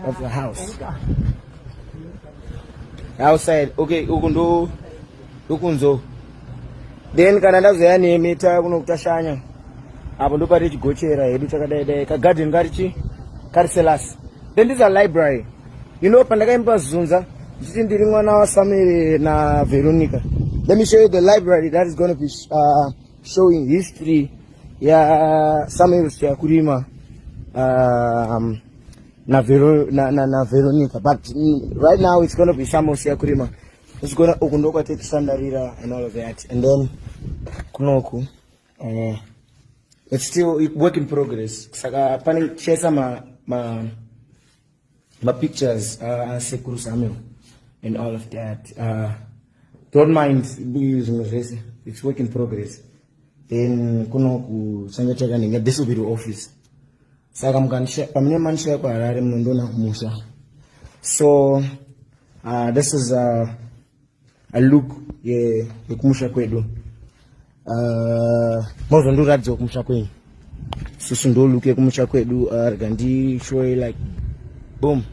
of the house outside okay uku ndo ukunzo then kana ndazoya nemi ta kuno kutashanya apo ndo pari chigochera hedu takadai dai ka garden kari chi kari selas then this a library you know pandakaimba zunza ndichiti ndiri mwana wa Samuel na Veronica let me show you the library that is going to be uh, showing history ya Samuel Siakurima um, na, Vero, na, na, na veronica but mm, right now it's gonna be summer usiya kurima usigona uku ndokwatetisandarira and all of that and then kunoku uh, it's still work in progress saka pane tichaisa ma, ma, ma pictures uh, asekuru uh, samuel and all of that uh, don't mind zvimwe zvese it's work in progress then kuno kusangateka ndinge this will be the office saka pamune manishaya kuharare munondiona kumusha so uh, this is a, a look yekumusha ye kwedu uh, mozondiratidzawo kumusha kwenyu susu ndo look yekumusha kwedu uh, rega ndishowe like boom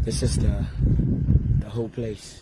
this is the, the whole place